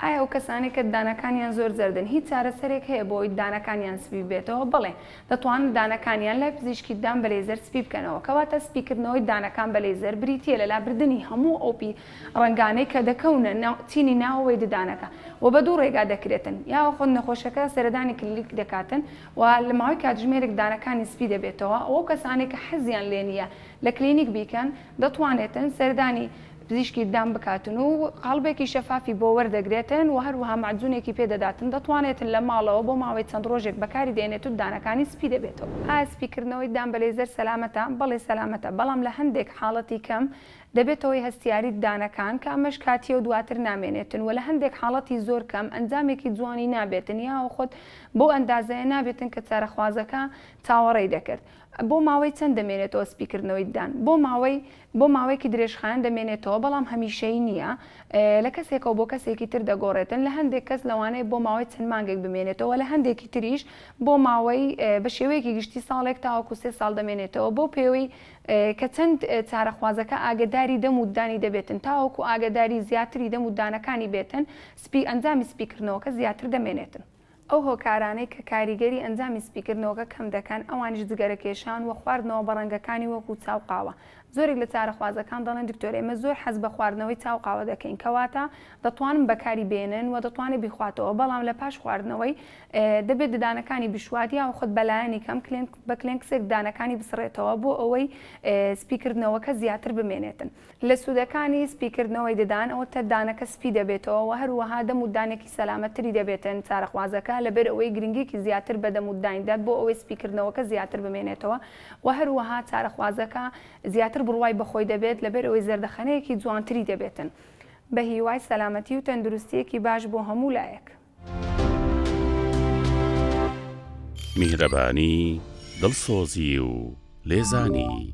ئایا ئەو کەسانەی کە ددانەکانیان زۆر زەردن هیچ چارەسەرێک هەیە بۆ ئەوەی ددانەکانیان سپی ببێتەوە؟ بەڵێ، دەتوانن ددانەکانیان لای پزیشکی ددان بە لەیزەر سپی بکەنەوە. کەواتە سپیکردنەوەی ددانەکان بە لەیزەر بریتییە لە لابردنی هەموو ئەو پی ڕەنگانەی کە دەکەونە ناو چینی ناوەوەی ددانەکە و بە دوو ڕێگا دەکرێتن یاخود نەخۆشەکە سەردانی کلینیک دەکاتن و لە ماوەی کاتژمێرێک ددانەکانی سپی دەبێتەوە و ئەو کەسانەی کە حەزیان لێنییە لە کلینیک بیکەن دەتوانێتن سەردانی پزیشکی ددان بکاتن و قاڵبێکی شەفافی بۆ وەردەگرێتن و هەروەها مەعجونێکی پێ دەداتن، دەتوانێتن لە ماڵەوە بۆ ماوەی چەند ڕۆژێک بەکاری دێنێت و ددانەکانی سپی دەبێتەوە. ئایا سپیکردنەوەی ددان بە لەیزەر سەلامەتە؟ بەڵێ سەلامەتە، بەڵام لە هەندێک حاڵەتی کەم دەبێتە هۆی هەستیاری ددانەکان کە ئەمەش کاتییە و دواتر نامێنێتن و لە هەندێک حاڵەتی زۆر کەم ئەنجامێکی جوانی نابێتن یاوە خۆت بەو ئەندازەیە نابێتن کە چارەخوازەکە چاوەڕێی دەکرد. بۆ ماوەی چەند دەمێنێتەوە سپیکردنەوەی ددان؟ بۆ ماوەی. بۆ ماوەیەکی درێژخایەن دەمێنێتەوە، بەڵام هەمیشەیی نییە، لە کەسێکەوە بۆ کەسێکی تر دەگۆڕێتن، لە هەندێک کەس لەوانەیە بۆ ماوەی چەند مانگێک بمێنێتەوە و لە هەندێکی تریش بۆ ماوەی بە شێوەیەکی گشتی ساڵێک تاوەکو سێ ساڵ دەمێنێتەوە بەو پێوەی کە چەند چارەخوازەکە ئاگەداری دەم و ددانی دەبێتن تاوەکو ئاگەداری زیاتری دەم و ددانەکانی بێتن سپی ئەنجامی سپیکردنەوەکە زیاتر دەمێنێتن. ئەو هۆکارانەی کە کاریگەری ئەنجامی سپیکردنەوەکە کەم دەکەن ئەوانیش جگەرەکێشان وە خواردنەوە بە ڕەنگەکانی وەکو چا و قاوە زۆرێک لە چارەخوازەکان دەڵێن دکتۆر ئێمە زۆر حەز بە خواردنەوەی چا و قاوە دەکەین کەواتە دەتوانن بەکاری بێنن وە دەتوانێت بیخواتەوە بەڵام لە پاش خواردنەوەی دەبێت ددانەکانی بشوات یاوخود بە لایەنی کەم کلێنک بە کلێنکسێک ددانەکانی بسڕێتەوە بۆ ئەوەی سپیکردنەوەکە زیاتر بمێنێتن. لە سوودەکانی سپیکردنەوەی ددان ئەوەتە دانەکە سپی دەبێتەوە و هەروەها دەم و دانێکی سەلامەت تری دەبێتن چارەخوازەکە لەبەر ئەوەی گرنگیەکی زیاتر بە دەم و ددان دەت بۆ ئەوەی سپیکردنەوەکە زیاتر بمێنێتەوە و هەروەها چارەخوازەکە زیاتر بڕوای بەخۆی دەبێت لەبەر ئەوەی زەردەخەنەیەکی جوانتری دەبێتن بەهیوای سەلامەتی و تەندروستیەکی باش بۆ هەموو لایەک. میهرەبانی دڵسۆزی و لێزانی